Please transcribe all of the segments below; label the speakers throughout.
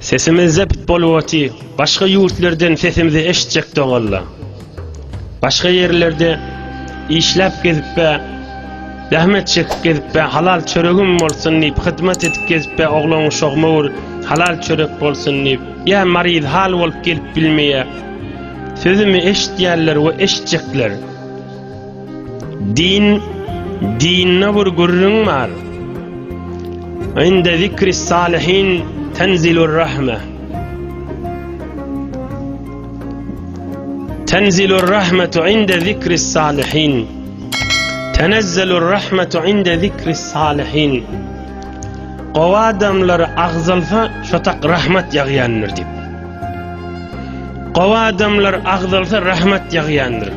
Speaker 1: Sesimizde pitbol woti başga ýurtlardan sesimizi eşitjek dogalla. Başga ýerlerde işläp gezip be, zähmet çekip gezip be, halal çöregim bolsun diýip, hyzmat edip gezip be, oglan uşag möwür halal çörek bolsun diýip, ýa maryz hal bolup gelip bilmeýär. Sözümi eşitýärler we eşitjekler. Din, dinne bir gürrüň bar. Inde zikri salihin tenzilur rahme. Tenzilur rahmetu inde zikri salihin. Tenezzelur rahmetu inde zikri salihin. Gowa adamlar agzalsa şotak rahmet ýagýandyr diýip. Gowa adamlar agzalsa rahmet ýagýandyr.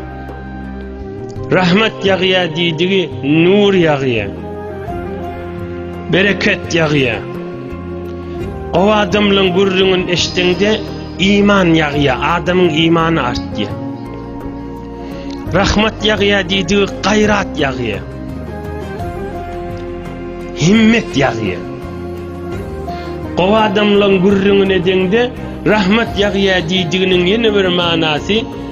Speaker 1: Rahmet ýagýa diýdigi nur ýagýa. Bereket ýagýa. O adamlaryň gürrüňin eşdeňde iman ýagýa, adamyň imany artýa. Rahmet ýagýa diýdigi gaýrat ýagýa. Himmet ýagýa. O adamlaryň gürrüňin edeňde rahmet ýagýa diýdiginiň ýene bir manasy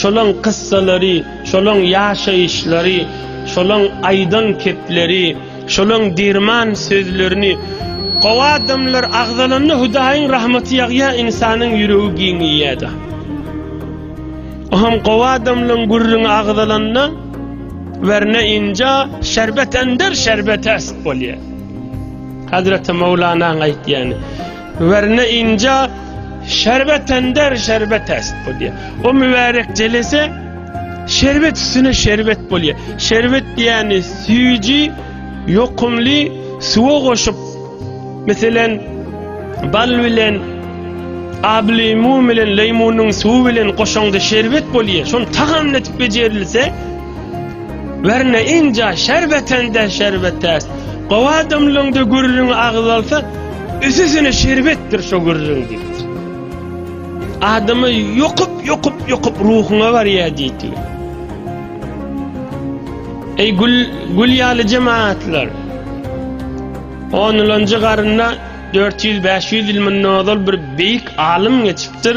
Speaker 1: Şolaň kyssalary, şolaň ýaşaýyşlary, şolaň aýdan kepleri, şolaň derman sözlerini Gowy adamlar agzalanda Hudaýyň rahmaty ýagýar, ynsanyň ýüregi giňeýär-de. O hem gowy adamlaň gürrüňi agzalanda werne inja şerbet ender şerbet äst bolýar. Hazreti Mowlanaň aýtýany. Werne inja şerbet ender şerbet est bolýar. O mübärek jelese şerbet üstüne şerbet bolýar. Şerbet diýeni süýji, ýokumly suwa goşup, meselen, bal bilen ablimu bilen leýmunyň suwy bilen goşaňda şerbet bolýar. Şony tagamlatyp bejerilse, Werne inja şerbetende şerbetäs. Gowy adamlaňda gürrüň agyz alsa, üsüsine şerbetdir şo gürrüň diýipdir. Adamy ýokup, ýokup, ýokup ruhuňa barýar diýipdir. Eý gül, gül ýaly jemaatlar. Onlanjy garynda 400-500 ýyl mundan ozal bir beýik alym geçipdir.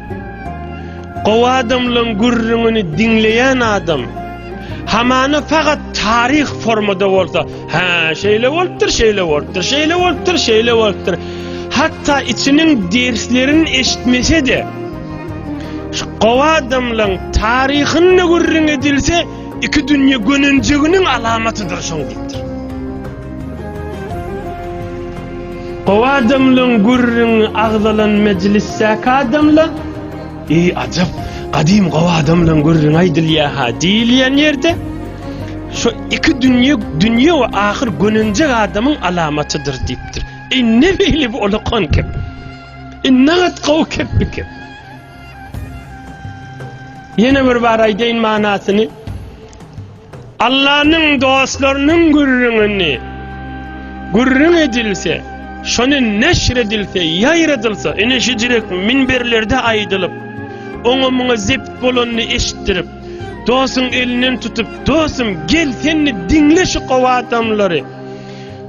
Speaker 1: Gowy adamlaň gürrüňini diňleýän adam hamana fagat taryh formada bolsa, hä, şeýle bolupdyr, şeýle bolupdyr, şeýle bolupdyr, şeýle bolupdyr. Hatda içiniň derslerini eşitmese-de, şu gowy adamlaň taryhyny gürrüň edilse, iki dünýe gönenjeginiň alamatydyr şoň diýipdir. O adamlaň gürrüňi agzalan mejlisdäki adamlar, Eý, ajap, gadym gowy adamlaň gürrüňi aýdylýar-ha diýilýän ýerde, Şu iki dünýe, dünýe we ahyr gönenjek adamyň alamatydyr diýipdir. Eý, ne beýle bu ulakan kep? E, nagat gowy kep bu kep. Ýene bir bar aýdaýyn manasyny. Allanyň dostlarynyň gürrüňini gürrüň edilse, şony neşr edilse, ýaýradylsa, ine şu jürek minberlerde aýdylyp, oňa-muňa zebt bolanyny eşitdirip, dostuň elinden tutup, Dostum, gel, senli diňle şu gowy adamlary.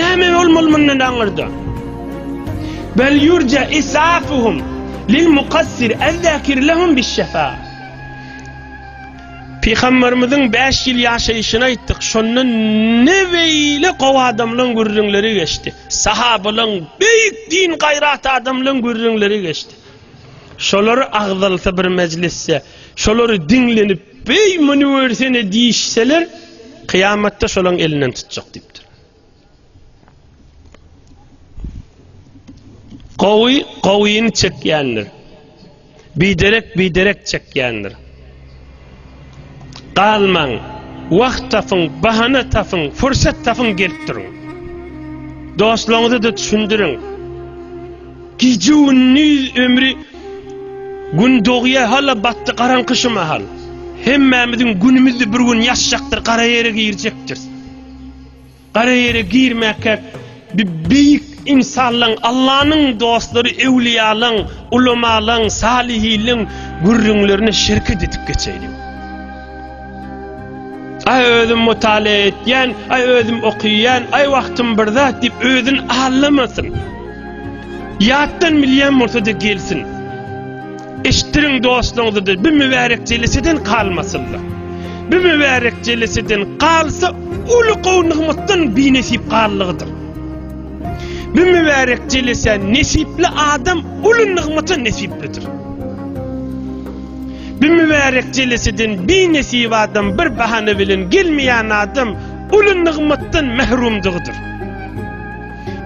Speaker 1: Näme bolmaly mundan aňyrda? Bel yurja isafuhum lil mukassir ezzakir lehum bis şefa. Pygamberimiziň 5 ýyl ýaşaýşyny aýtdyk. Şonda ne beýle gowy adamlaryň gürrüňleri geçdi. Sahabalaryň beýik din gaýrat adamlaryň gürrüňleri geçdi. Şolary agzalsa bir mejlisde, şolary diňlenip Beý muny görsene diýişseler, kyýamatda şolaň elinden tutjak diýipdir. Gowy gowyny çekýändir. Biderek biderek çekýändir. Galmaň, wagt tapyň, bahana tapyň, pursat tapyň gelip duruň. Dostlaryňyza da düşündiriň. Gije-gündiz ömri Gün dogýa hala batdy garaňky şu mahal. Hemmämiziň günümizdi bir gün ýaşjakdyr gara ýere girjekdiris. Gara ýere girmäkä bi beýik ynsanlaň Allanyň dostlary öwliýalaň ulamalaň salihilin gürrüňlerine şerket edip geçeýliň. Aý özüm mutala etýän, aý özüm okyýan, aý wagtym bir zat diýip özün allamasyn. Ýatdan bilýän bolsa-da gelsin. Eşitdiriň dostlaryňyza-da bu mübärek jeleseden galmasynlar. Bu mübärek jeleseden galsa uly gowy nygmatdan binesip gallygydyr. Bu mübärek jelesä nesipli adam uly nygmata nesiplidir. Bu mübärek jeleseden bi-nesip adam bir bahana bilen gelmeýän adam uly nygmatdan mährumdygydyr.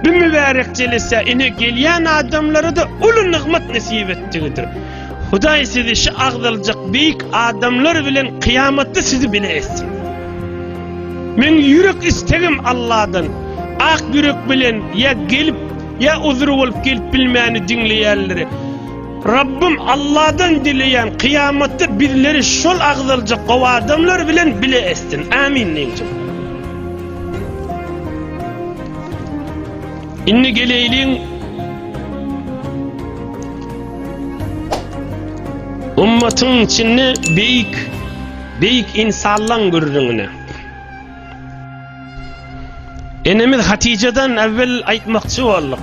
Speaker 1: Bu mübärek jelesä ine gelýän adamlara-da uly nygmat nesip etdigidir. Hudaý sizi şu agzaljak beýik adamlar bilen kyýamatda sizi bile etsin. Men ýürek istegim Alladan, ak ýürek bilen ýa gelip, ýa uzry bolup gelip bilmäni diňleýänleri, Rabbym Alladan dileýän kyýamatda bizleri şol agzaljak gowy adamlar bilen bile etsin Amin Nynjym. Indi geleýliň Ummatyň içinde beýik beýik insanlaň gürrüňine. Enemiz Hatijadan äwwel aýtmakçy bolduk.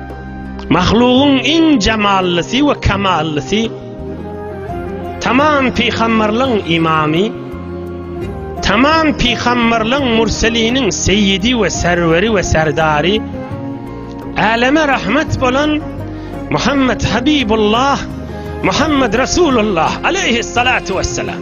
Speaker 1: Mahlugyň iň jamallysy we kamallysy, tamam pygamberligiň imamy, tamam pygamberligiň murseliniň seýidi we serweri we serdary, äleme rahmet bolan Muhammed Habibullah, Muhammed Resulullah aleyhissalatu wessalam.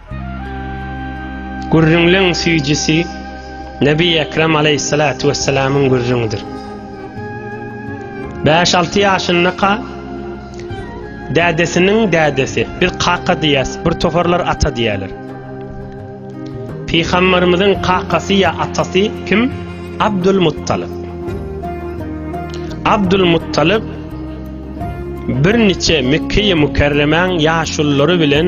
Speaker 1: Gürrüňleň süýjüsi Nebi Ekrem aleýhissalatu wessalamyň gürrüňidir. Bäş-alty ýaşyndaka dädesiniň dädesi, biz kaka diýýäs, bir toparlar ata diýýärler. Pygamberimiziň kakasy ýa atasy kim? Abdul Muttalyp. Abdul Muttalyp birniçe Mekkeýe Mükerremäň ýaşululary bilen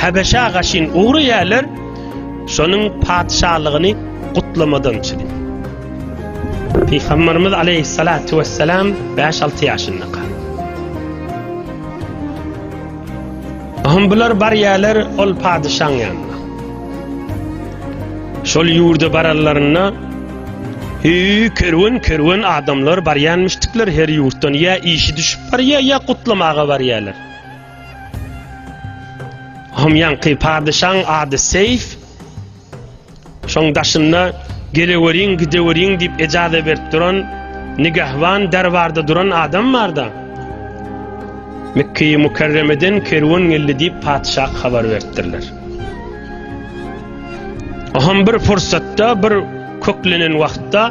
Speaker 1: Habeşa gaşyn ugry ýerler şonuň patyşalygyny gutlamadan çydy. Pygamberimiz aleyhissalatu vesselam 5-6 ýaşynda kal. Ahym bular bar ýerler ol patyşaň ýanyna. Şol ýurda bararlarynda Hü kerwen kerwen adamlar barýanmyşdyklar her ýurtdan ýa işi düşüp barýa ýa gutlamaga barýarlar. Hom ýaňky padyşaň ady Seýf. Şoň daşynda geleweriň, gideweriň diýip ejaza berip duran nigahwan derbarda duran adam barda. Mekkeýi Mukarremeden kerwen geldi diýip patyşa habar beripdirler. Hom bir pursatda bir köklenen wagtda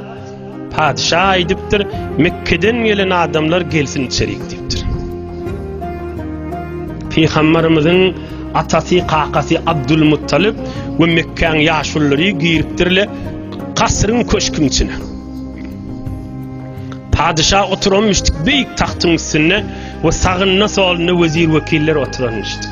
Speaker 1: Patyşa aýdypdyr, Mekgeden gelen adamlar gelsin içerik diýipdir. Pygamberimiziň atasy, kakasy Abdul Muttalyp we Mekkäň ýaşullary giripdirler kasryň köşküň içine. Patyşa oturanmyşdyk beýik tagtyň üstünde we sagynda solunda wezir wekiller oturanmyşdyk.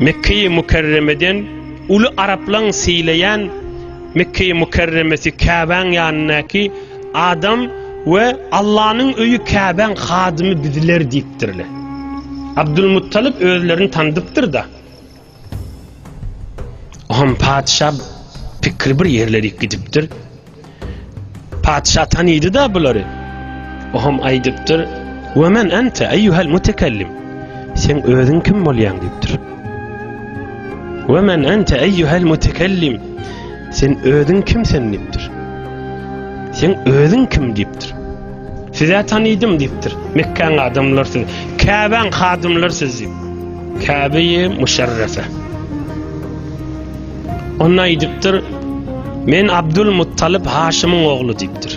Speaker 1: Mekge-i Mükerremeden uly araplaň sylaýan Mekge-i Mükerremesi Käbäň ýanyndaky adam we Allanyň öýi Käbäň hadymy biziler diýipdirler. Abdulmuttalyp özlerini tanydypdyr-da. Oňam patyşa pikri bir ýerlerik gidipdir. Patyşa tanýdy-da bulary. Ohm aýdypdyr, We men ente eýýuhel mutekellim. Sen özüň kim bolýaň diýipdir. We men ente eýýuhel mutekellim. Sen özüň kim sen diýipdir. Sen özüň kim diýipdir. Size tanýdym diýipdir. Mekkäň adamlar siz, Käbäň hadymlar siz diýip. Käbeýi müşerrefe. Onda aýdypdyr, Men Abdul Muttalyp Haşymyň ogly diýipdir.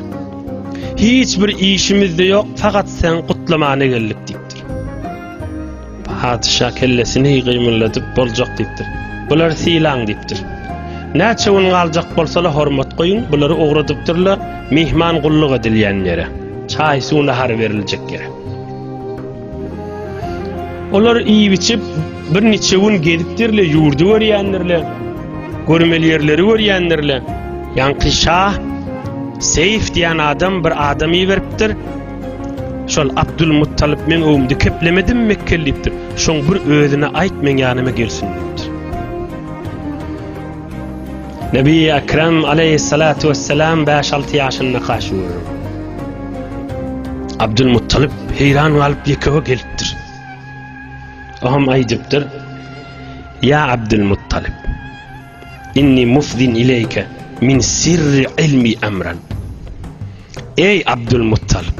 Speaker 1: Hiç bir işimiz-de ýok, fakat sen gutlamana geldik diýipdir. Patyşa kellesini gymylladyp, Boljak diýipdir. Bulary sylaň diýipdir. Näçe gün galjak bolsalar hormat goýuň, bulary ugradypdyrlar myhman gulluk edilýän ýere, çaý-suw-nahar beriljek ýere. Olar iýip-içip, birniçe gün gezipdirler, ýurdy görýändirler, görmeli ýerleri görýändirler. Ýaňky şa Seýf diýen adam bir adam iberipdir. Şol Abdulmuttalyp meň öwümde keplemedimi Mekgeli diýipdir. Şoň bir özüne aýt, meň ýanyma gelsin diýipdir. Nebi Ekrem aleýhissalatu wessalam bäş-alty ýaşynda kaş görür. Abdulmuttalyp heýran galyp ýekewe gelipdir. Oham aýdypdyr. Ýa Abdulmuttalyp. Inni mufzin ileýke min sirri ilmi amran. Eý Abdulmuttalyp.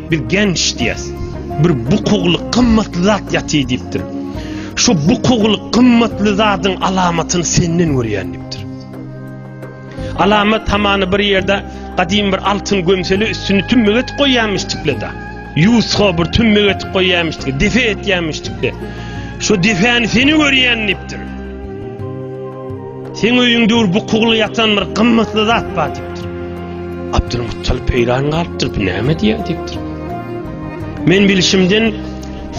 Speaker 1: Biz genç diýýäs. Bir bukugly gymmatly zat ýatyr diýipdir. Şu bukugly gymmatly zadyň alamatyny senden görýän diýipdir. Alamat hamany bir ýerde gadymy bir altyn gömseli üstüni tümmük etip goýýanmyşdykla da. Ýusga bir tümmük etip goýýanmyşdykla, defe etýänmişdikle. Şu defäni seni görýän diýipdir. Seň öýüň döwür bukugly ýatan bir gymmatly zat bar diýipdir. Abdulmuttalip heýran galypdyr, bu näme diýýär diýipdir. Men bilişimden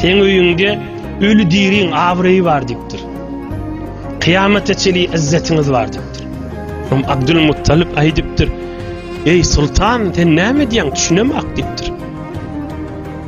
Speaker 1: seň öýüňde öli diriň abraýy bar diýipdir. Kyýamata çeli izzetiňiz bar diýipdir. Hum Abdulmuttalip aýdypdyr. Eý sultan, sen näme diýýäň, düşünemak diýipdir.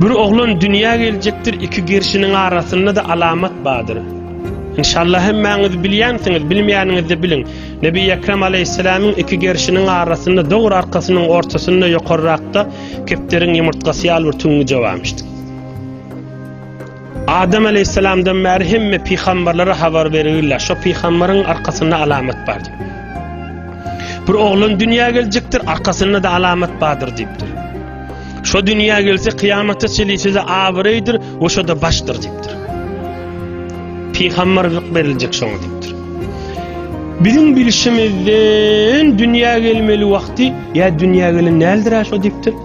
Speaker 1: Bir oglan dünýä geljekdir iki gerşiniň arasynda-da alamat bardyr. Inşallah hemmäňiz bilýänsiňiz, bilmeýäniňizde biliň. Nebi Ekrem alaýhyssalamyň iki gerşiniň arasynda dogry arkasynyň ortasynda ýokarrakda kepderiň ýumurtgasy ýaly bir tüňňüje barmyşdy. Adam aleýhissalamdan bäri hemme pygamberlere habar berilýär. Şo pygamberyň arkasynda alamat bar diýip. Bir oglan dünýä geljekdir, arkasynda-da alamat bardyr diýipdir. Şo dünýä gelse kyýamata çenli size abraýdyr we şo-da başdyr diýipdir. Pygamberlik beriljek şoňa diýipdir. Biziň bilşimizden dünýä gelmeli wagty ýa dünýä gelen däldir şo diýipdir.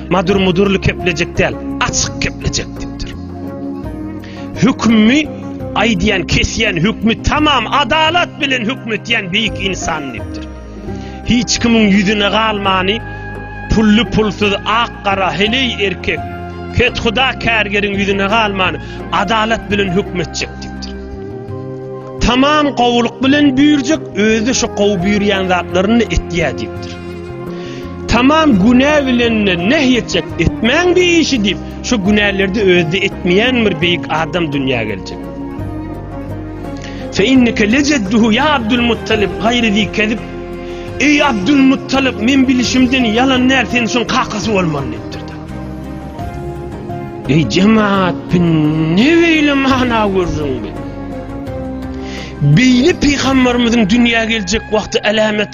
Speaker 1: Madur mudurly keplejek däl, açyk keplejek dipdir. Hükümmi aýdýan, kesýän hükmi tamam adalat bilen hükm etýän beýik insan dipdir. Hiç kimiň ýüzüne galmany, pully pulsuz, ak gara, heleý erkek, ket huda kärgeriň ýüzüne galmany adalat bilen hükm etjek dipdir. Tamam gowulyk bilen büýürjek, özi şu gowy büýürýän zatlaryny etýär dipdir. Tamam günä bilenine näh etjek etmäň bir işi diýip şu günälerde özde etmeýän bir beýik adam dünýä geljek. Fe inneke lejedduhu ya Abdul Muttalib gaýry zi kezib Eý Abdul Muttalib men bilişimden ýalan näl sen şuň kakasy bolmaly diýipdir. Eý jemaat bin ne beýle mana gördüň bi. Beýle pygamberimiziň dünýä geljek wagty alamet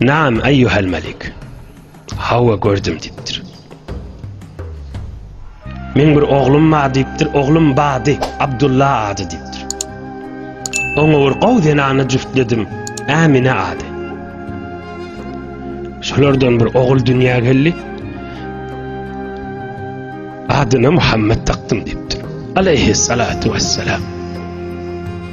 Speaker 1: Naam eyyuhel melik. Hawa gördüm diýipdir. Men bir oglum bar diýipdir. Oglum bady Abdulla ady diýipdir. Oňa bir gowy zenany jüftledim. Amine ady. Şolardan bir ogul dünýä geldi. Adyna Muhammed takdym diýipdir. Aleyhi salatu vesselam.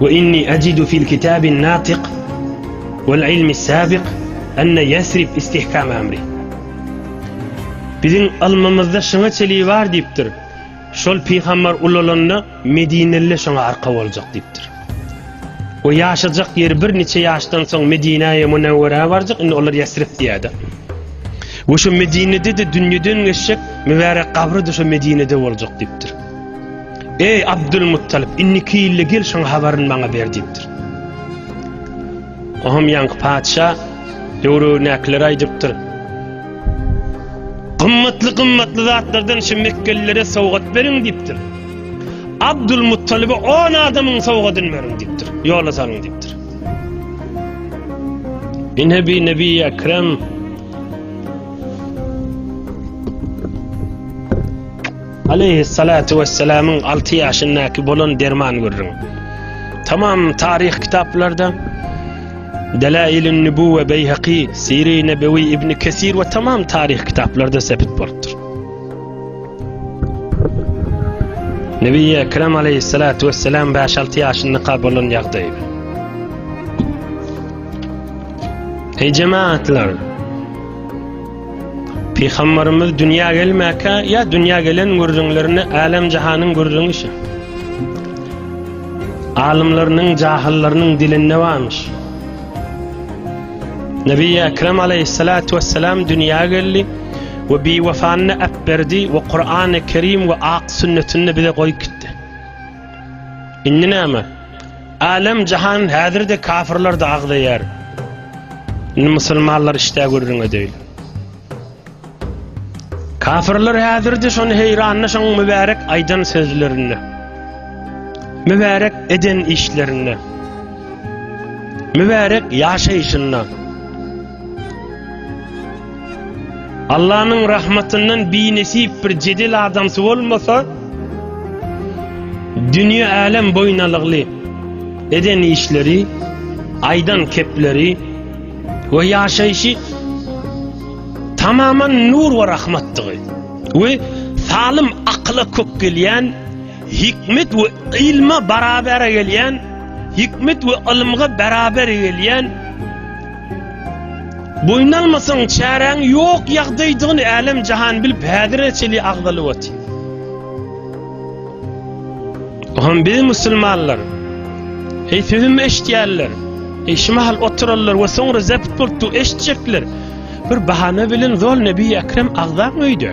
Speaker 1: Ve inni acidu fil kitabin natiq vel ilmis sabiq enne Yesrib istihkam amri. Biziň ylmymyzda şuňa çeligi bar diýipdir. Şol pygambar ulalanda Medineliler şoňa arka boljak diýipdir. Ve ýaşajak ýeri bir niçe ýaşdan soň Medinäýe Munewwerä barjak, indi olar Yesrib diýädi. Ve şu Medinede-de dünýeden geçjek mübärek gabry-da şu Medinede boljak diýipdir. Eý, Abdylmuttalyp, indiki ýylda gel, şoň habaryny maňa ber diýipdir. Oňam ýaňky patyşa döwrebinäkilere aýdypdyr. Gymmatly-gymmatly zatlardan şu mekgelilere sowgat beriň diýipdir. Abdylmuttalyba on adamyň sowgadyny beriň diýipdir. Ýola salyň diýipdir. Ine bi nebi ekrem Aleýhissalatu wessalamyň alty ýaşyndaky bolan derman gürrüň. Tamam taryh kitaplarda Delailin Nübüwwe Beýhaki, Siri Nebewi Ibn Kesir we tamam taryh kitaplarda sebit bolupdyr. Nebi Ekrem aleyhissalatu vesselam 5-6 yaşında kabolun yagdaydı. Ey cemaatlar! Pygambarymyz dünýä gelmäkä ýa dünýä gelen gürrüňlerine älem-jahanyň gürrüňi şi. Alymlarynyň, jahyllarynyň dilinde barmyş. Nebi Ekrem aleýhissalatu wessalam dünýä geldi we biwefanyny äp berdi we Kur'an-y Kerim we ak sünnetini bize goýup gitdi. Indi näme? Älem jahan häzirde kafirlerde agzaýar. Indi musulmanlar işdä gürrüň edeýin. Kafirler häzirde şony heýrandy şoň mübärek aýdan sözlerinde. Mübärek eden işlerinde. Mübärek ýaşaýşynda. Allanyň rahmatyndan binesip bir jedel adamsy bolmasa, dünýe-älem boýun alygly eden işleri, aýdan kepleri we ýaşaýşy tamaman nur we rahmatdygy we salym akyla kök gelýän, hikmet we ylma barabere gelýän, hikmet we ylymga beraber gelýän, Boýun almasaň, çäräň ýok ýagdaýdygyny älem-jahan bilip, häzire çenli agzalyp otyr. Bu hem biz musulmanlar. Eý, sözümi eşitýänler! Eý, şu mahal oturanlar we soňra zepit bolupdygy eşitjekler! Bir bahana bilen zol Nebi Ekrem agzam öýde.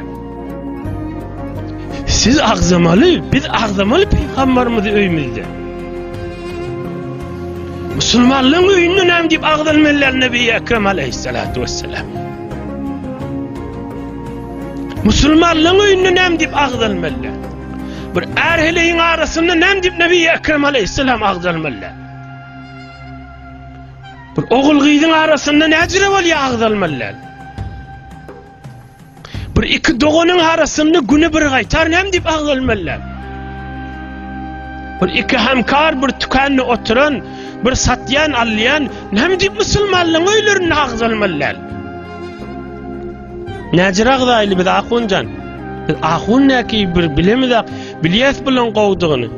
Speaker 1: Siz agzamaly, biz agzamaly pygambarymyzy öýümizde. Musulmanlaryň öýünde näme diýip agzalmalylar Nebi Ekrem aleyhissalatu vesselam. Musulmanlaryň öýünde näme diýip agzalmalylar? Bir ärheleýin arasynda näme diýip Nebi Ekrem aleyhissalam agzalmalylar? Bir ogul gyzyň arasynda näjire bolýar agzalmalylar? Bir iki doganyň arasynda güni bir gaýtar näme diýip agzalmalylar. Bir iki hemkar bir tükende oturan, bir satýan, alýan näme diýip musulmanlaryň öýlerinde agzalmalylar. Näjir agzaýly biz ahunjan. Biz ahun näki bir bilemiz Bilýäs bulan gowdygyny.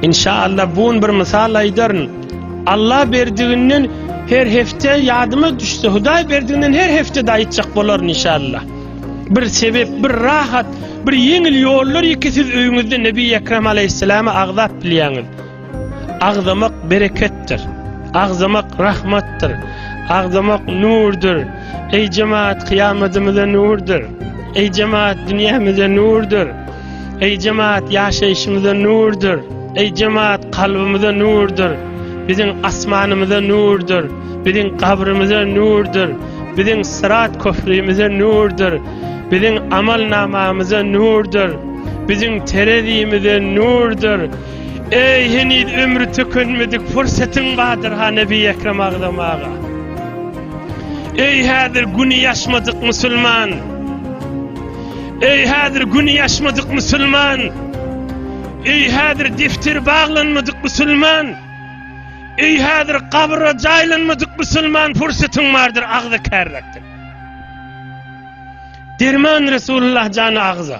Speaker 1: Inşallah bu gün bir mysal aýdaryn. Allah berdiginden her hepde ýadyma düşse, Hudaý berdiginden her hepde de aýtjak bolaryn inşallah. Bir sebep, bir rahat, bir ýeňil ýollar iki siz öýüňizde Nebi Ekrem aleyhisselamy agzap bilýäňiz. Agzamak bereketdir. Agzamak rahmatdyr. Agzamak nurdyr. Eý jemaat kyýamadymyza nurdyr. Eý jemaat dünýämize nurdyr. Eý jemaat ýaşaýşymyza nurdyr. Eý jemaat kalbymyza nurdyr. Biziň asmanymyza nurdyr. Biziň gabrymyza nurdyr. Biziň syrat köprümize nurdyr. Biziň amal namamyza nurdyr. Biziň terezimize nurdyr. Eý, heniz ömri tükenmedik pursatyň bardyr ha Nebi Ekrem agzam aga. Eý, häzir güni ýaşmadyk musulman. Eý, häzir güni ýaşmadyk musulman. Eý, häzir defter baglanmadyk musulman. Eý, häzir gabra jaýlanmadyk musulman pursatyň bardyr agza kärlekdir. Derman Resulullah jany agza.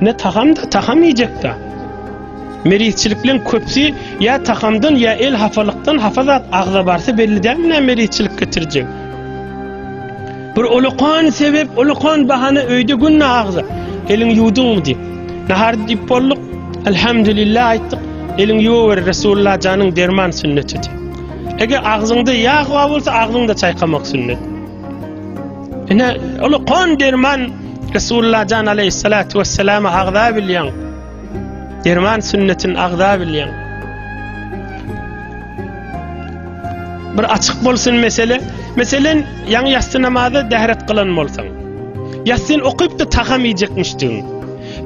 Speaker 1: Ne taham da taham iýjek da. Merizçilikleň köpsi ýa tahamdan ýa el hapalykdan hapa zat agza barsa belli däl nä merizçilik getirjek. Bir ulukan sebep, ulukan bahana öýde gün agza. Eliň ýuwduňmy diýip. Nahar diýip bolduk. Elhamdülillah aýtdyk. Eliň ýuwur Resulullah janyň derman sünneti. Eger agzyňda ýag bar bolsa agzyňda çaýkamak sünnet. Ine, ol kon derman Resulullah jan aleyhissalatu vesselam agza bilýän. Derman sünnetin agza bilýän. Bir açyk bolsun mesele. Meselen, ýaňy ýassy namazy dähret gylan bolsaň. Ýassyn okypdy tagam iýjekmişdiň.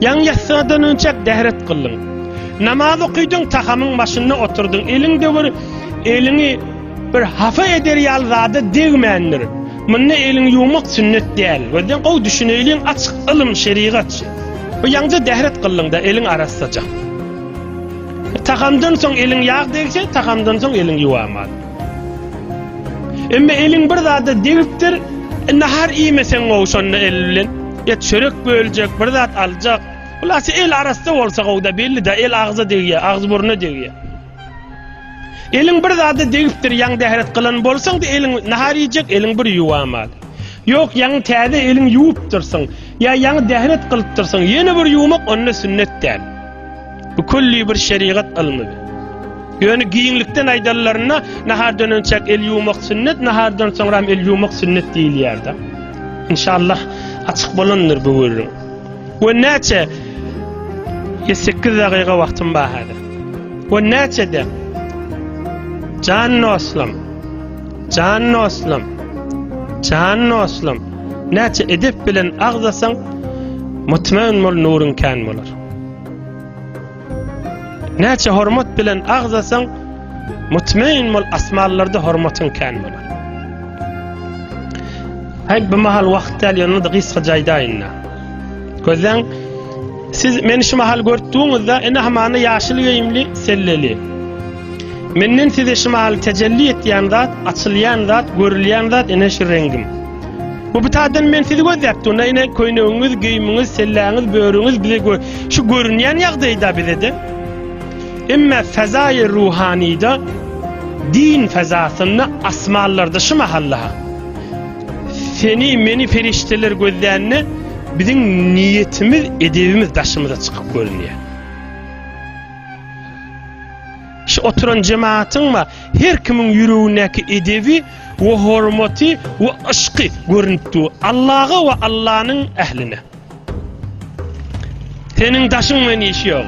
Speaker 1: Ýaňy ýassydan önçäk dähret gyldyň. Namaz okydyň tagamyň başynda oturdyň. Eliň döwür eliňi Bir hafa eder ýaly zada degmändir. Munda elini ýuwmak sünnet däl. Gözden gowy düşüneýliň açyk ylym şerigat. Bu ýaňja dähret gyllyňda eliň arassaja. Tagamdan soň eliň ýag degse tagamdan soň eliň ýuwaman. Emma eliň bir zada degipdir. Nahar iýmeseň gowy şonda el bilen. Ýa çörek böljek bir zat aljak. Hulasy el arassa bolsa gowda belli da el agza degýär agz burna degýär. Eliň bir zada degipdir, ýaňy dähret gylan bolsaň-da, eliň nahar iýjek eliň bir ýuwamaly. Ýok, ýaňy täze eliň ýuwupdyrsyň, ýa ýaňy dähret gylypdyrsyň, ýene bir ýuwmak onda sünnet däl. Bu külli bir şerigat ylmydy. Ýöne giňlikden aýdanlarynda, nahardan önçäk el ýuwmak sünnet, nahardan soňram el ýuwmak sünnet diýilýär-de. Inşallah, açyk bolandyr bu gürrüň. We näçe? Ýe 8 dagyga wagtym bar häzir. We näçede? Jan dostum. Jan dostum. Jan dostum. Näçe edep bilen agzasaň, mutmaýyn bol nuryň kän bolar. Näçe hormat bilen agzasaň, mutmain bol asmanlarda hormatyň kän bolar. Haý bu mahal wagt däl ýöne-de gysga jaýdaýynda. Gözden siz meni şu mahal görtdüňizde ene hamana ýaşyl geýimli selleli. Menden size şu mahal tejelli etýän zat, açylýan zat, görülýän zat ene şu rengim. Bu bitadan men sizi gözläp durna ine köýnegiňiz, geýimiňiz, selläňiz, börüňiz bize gö şu görünýän ýagdaýda bizede. Emma fezaýy ruhanyda din fezasynda asmanlarda şu mahalla seni meni perişdeler gözlände biziň niýetimiz, edebimiz daşymyza çykyp görünýär. Şu oturan jemaatyň we her kimiň ýüregindäki edebi we hormaty we yşky görünip dur Allaha we Allanyň ähline. Seniň daşyň bilen işi ýok.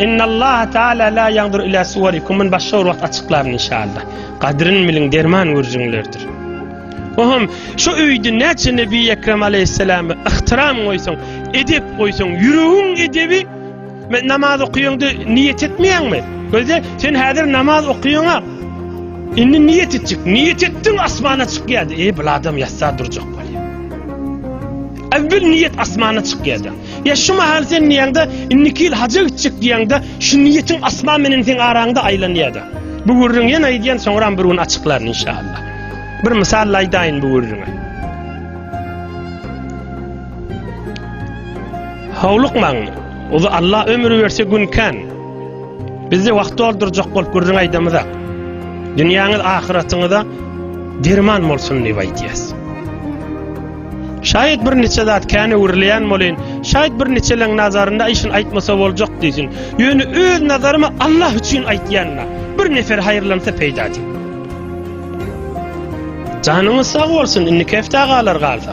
Speaker 1: Innallaha taala la ýandur ila suwarikum men başga bir wagt açyklaryn inşallah. Gadryn biliň derman gürjüňlerdir. Ohum, şu öýde näçe Nebi Ekrem aleyhisselamı ihtiram goýsaň, edep goýsaň, ýüregiň edebi Men namaz okuýaňdy, niýet etmeýäňmi? Gözde, sen häzir namaz okuýaňa. Indi niýet etjek. Niýet etdiň, asmana çykýardy. Eý, bu adam ýatsa durjak bolýar. Äwwel niýet asmana çykýardy. Ýa şu mahal sen niýäňde, indiki ýyl haja gitjek diýäňde, şu niýetiň asman menen seň araňda aýlanýardy. Bu gürrüň ýene aýdýan, soňra bir gün açyklaryn inşallah. Bir mysal aýdaýyn bu gürrüňe. Howlukmaň, uly Alla ömür berse gün kän. Bizde wagt doldurjak bolup gürrüň aýdamyzak. Dünýäňiz ahyratyňyza derman bolsun diýip aýdýas. Şaýat bir niçe zat kän öwrülýän bolýan, şaýat bir niçeleň nazarynda aýşyn aýtmasa boljak diýsin. Ýöne öz nazarymy Allah üçin aýtýanna, bir nefer haýyrlansa peýda diýip. Janyňyz sag bolsun, indi kefta galar galsa.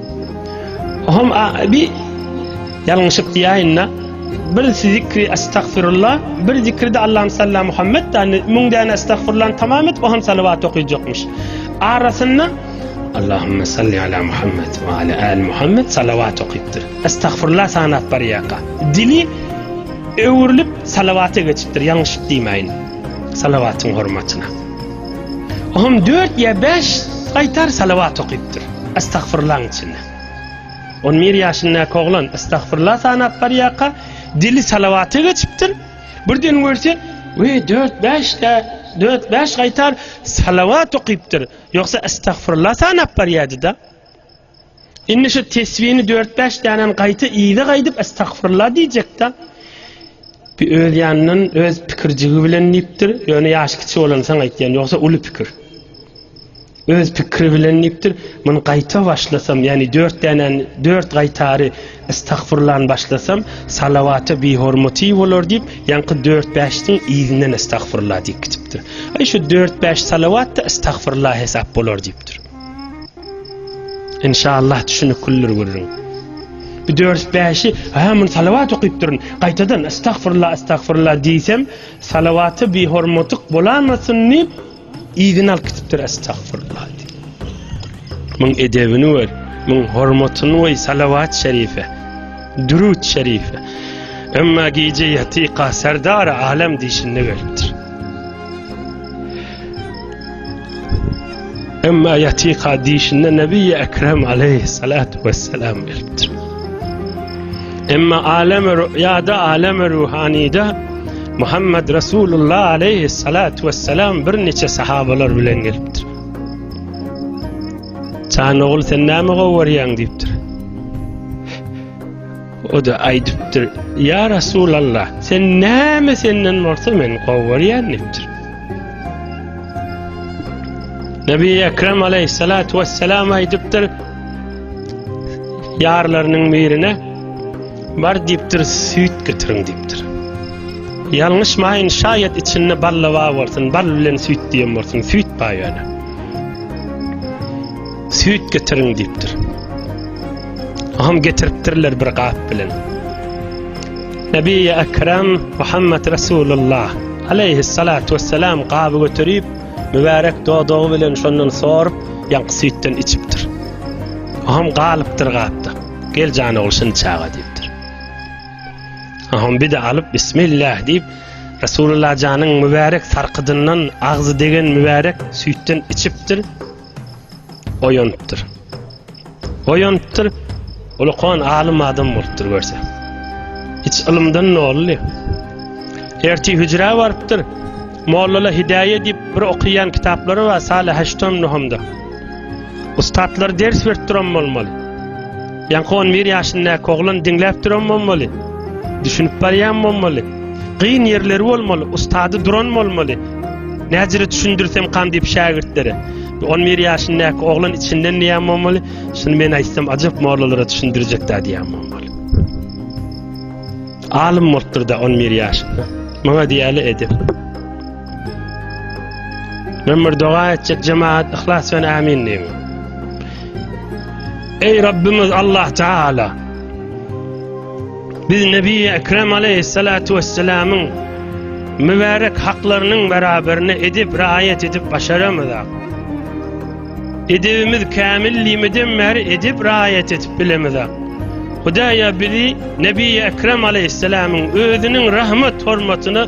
Speaker 1: Hom a bi ýalňyşyp diýäýinda bir zikri estagfirullah bir zikri de Allahum salla Muhammed da müň däne estagfirullah tamam et o hem salawat okyjakmyş arasynda Allahum salli ala Muhammed we ala al Muhammed salawat okypdyr estagfirullah sanap barýaka dili öwrülip salawata geçipdir ýalňyşyp diýmäýin salawatyň hormatyna Oňam dört ýa bäş gaýtar salawat okypdyr, astagfyrlaň içinde. On bir ýaşyndaky oglan astagfyrla sanap barýarka, dili salawata geçipdir, birden görse, we, dört-bäş-de, dört-bäş gaýtar salawat okypdyr, ýogsa astagfyrla sanap barýardy-da. Indi şu tesbini dört-bäş dänen gaýta yza gaýdyp estagfirullah diýjek-de. Bir öz ýanyndan, öz pikirjigi bilen diýipdir. Ýöne ýaşy kiçi bolansaň aýtýan, ýogsa uly pikir. Öz pikiri bilen diýipdir. Muny gaýta başlasam, ýagny dört dänen, dört gaýtary estagfirullany başlasam, salawata bihormaty bolar diýip, ýaňky dört-bäşiň yzyndan estagfirullah diýip gitipdir. Aý şu dört-bäş salawat-da estagfirullah hesap bolar diýipdir. Inşallah düşüniklidir gürrüň. Bir dört bäşi, ha men salawat okyp durun. Gaýtadan estagfirullah estagfirullah diýsem, salawata bir hormatyk bolamasyn diýip, yzyny alyp gitipdir estagfirullah diýip. Muň edebini gör, muň hormatyny goý salawat şerife. Durut şerife. Emma gije ýatyka serdar alem diýşinde gelipdir. Emma ýatyka dişinde Nebiýi Ekrem aleýhissalatu wessalam gelipdir. Emma alem rüýada alem ruhanyda Muhammed Resulullah aleýhissalatu wessalam bir niçe sahabalar bilen gelipdir. Çan ogul sen näme gowarýaň diýipdir. O-da aýdypdyr, Ýa Resulalla, sen näme senden bolsa men gowy görýän diýipdir. Nebi Ekrem aleyhissalatu vesselam aýdypdyr, ýarlarynyň birine bar diýipdir, süýt getiriň diýipdir. Ýalňyşmaýyn, şaýat içinde balla bar bolsun, bal bilen süýt diýen bolsun, süýt bar ýöne. Süýt getiriň diýipdir. Aham getiripdirler bir gap bilen. Nebi Ekrem Muhammed Resulullah aleyhi salatu vesselam gaby götürip, mübarek dodagy bilen şondan sorup, ýaňky süýtden içipdir. Aham galypdyr gapda. Gel jan ogul şuny çaga diýipdir. Aham bir de alyp bismillah diýip, Resulullah janyň mübarek sarkydyndan agzy degen mübarek süýtden içipdir. oýanypdyr. Oýanypdyr, ulukan alym adam bolupdyr görse. Hiç ylymdan nolly. Erti hüjrä barypdyr. Mollala Hidaýe diýip bir okaýan kitaplary bar, Salih Haştam Nuhamda. Ustatlar ders berip duran bolmaly. Ýaňky on bir ýaşyndaky oglan diňläp duran bolmaly. Düşünip barýan bolmaly. Gyn ýerleri bolmaly, ustady duran bolmaly. Näjire düşündirsem kan diýip şägirtlere. On bir ýaşyndaky oglan içinden diýen bolmaly. Şuny men aýtsam ajap mollalara düşündirjek da diýen bolmaly. Alym bolupdyr da on bir ýaşynda. Maňa diýeli edip. Men bir doga etjek jemaat yhlas bilen amin diýiň. Eý Rabbimiz Allah Taala. Biz Nebi Ekrem aleyhissalatu vesselamyň mübarek haklarynyň beraberine edip raýat edip başaramyzak. Edebimiz kamil limiden bäri edip raýat edip bilemizak. Hudaýa bizi Nebi Ekrem aleyhissalamyň özüniň rahmet hormatyna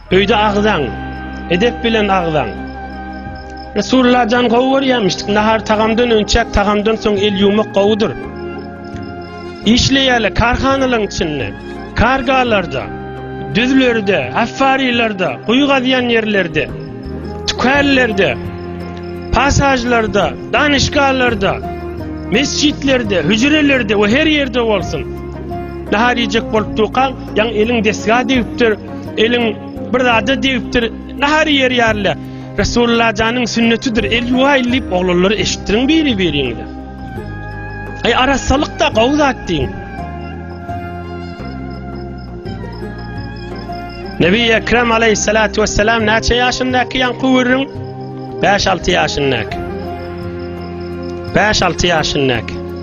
Speaker 1: Öýde agzaň. Edep bilen agzaň. Resulullah jan gowy görýärmişdik. Nahar tagamdan önçäk, tagamdan soň el ýuwmak gowudyr. Işleýärler karhanalaryň içinde, kargalarda, düzlerde, affarilerde, guýy gazýan ýerlerde, tükänlerde, pasažlarda, danyşgalarda, mesjitlerde, hüjrelerde we her ýerde bolsun. Nahar iýjek bolup dukaň, Ýaň eliň desga degipdir, eliň bir zada degipdir, nahar ýer ýarla. Resulullah janyň sünnetidir, el ýuwaýyl diýip oglanlary eşitdiriň biri-biriňize. Aý arassalyk da gowy zat diýiň. Nebi Ekrem aleyhissalatu vesselam näçe yaşındaki yankı vurun? 5-6 yaşındaki. 5-6 yaşındaki.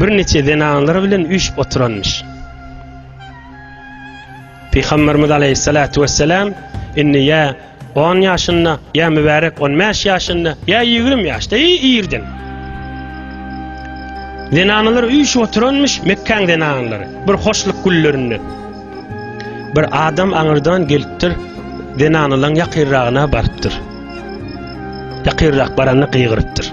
Speaker 1: bir neçe zenanlar bilen üýşüp oturanmyş. Pygamberimiz aleyhissalatu vesselam inni ya 10 yaşynda, ya mübarek 15 yaşynda, ya 20 yaşda, ya irden. Zenanlar üýşüp oturanmyş Mekkan zenanlary, bir hoşluk güllerinde. Bir adam aňyrdan gelipdir, zenanlaryň ýakyrragyna barypdyr. Ýakyrrak baranda gygyrypdyr.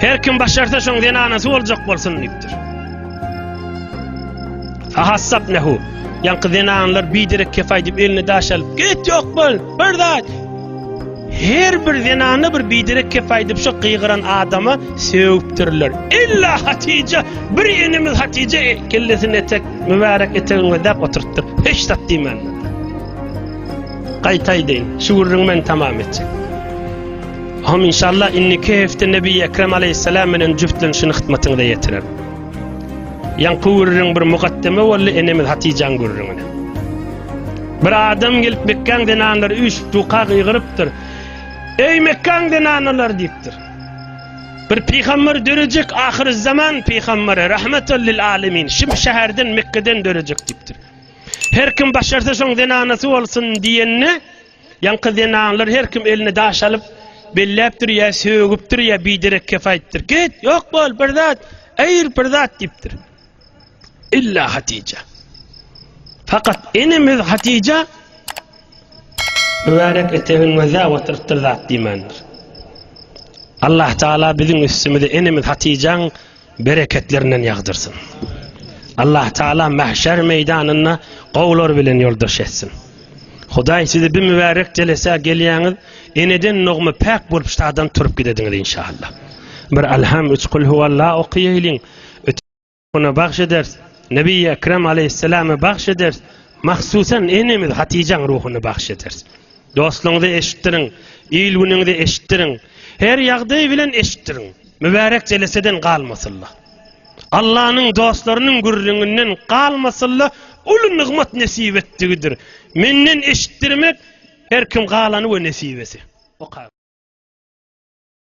Speaker 1: Her kim başarsa şoň zenanasy boljak bolsun diýipdir. Ahassap nehu. Ýaňky zenanlar biderek kefaý diýip elini daş alyp, "Git ýok bol, bir zat." Her bir zenana bir biderek kefaý diýip şu gygyran adama sögüpdirler. Illa Hatije, bir enemiz Hatije e, kellesini etek, mübärek etegiňe däp oturtdyr. Hiç zat diýmänler. Gaýtaýdyn, şu gürrüňi men tamam etjek. Hom inşallah inniki hefte Nebi Ekrem Aleyhisselam bilen jüftlenişini hytmatyňyza ýetirer. Ýaňky gürrüň bir mukaddeme boldy enemiz Hatijäň gürrüňine. Bir adam gelip Mekkäň zenanlary üç duka gygyrypdyr. Eý Mekkäň zenanlar diýipdir. Bir pygamber dörejek ahyr zaman pygamberi rahmetel lil alemin şu şäherden Mekkäden dörejek diýipdir. Her kim başarsa şoň zenanasy bolsun diýende Ýaňky zenanlar her kim eline daş alyp, belläpdir ýa sögüpdir ýa biderek kef aýtdyr. Git, ýok bol, bir zat, aýyr bir zat diýipdir. Illa Hatija. Fakat enemiz Hatija mübarek etegin göze oturtdyr zat diýmändir. Allah Taala biziň üstümize enemiz Hatijaň bereketlerinden ýagdyrsyn. Allah Taala mahşer meýdanynda gowlar bilen ýoldaş etsin. Hudaý sizi bir mübärek jelesä gelýäňiz, eneden dogma päk bolup şadan turup gidediňiz inşallah. Bir alham üç kul huwalla okaýaýlyň. Ötüne bagş eder. Nebi Ekrem aleyhisselama bagş eder. Mahsusan enemiz Hatijaň ruhuny bagş eder. Dostlugyňyzy eşitdiriň, il günüňizi eşitdiriň. Her ýagdaý bilen eşitdiriň. Mübärek jeleseden galmasylla. Allanyň dostlarynyň gürrüňinden galmasylla uly nygmat nesip etdigidir. Menden eşitdirmek her kim galany we nesibesi. Oka.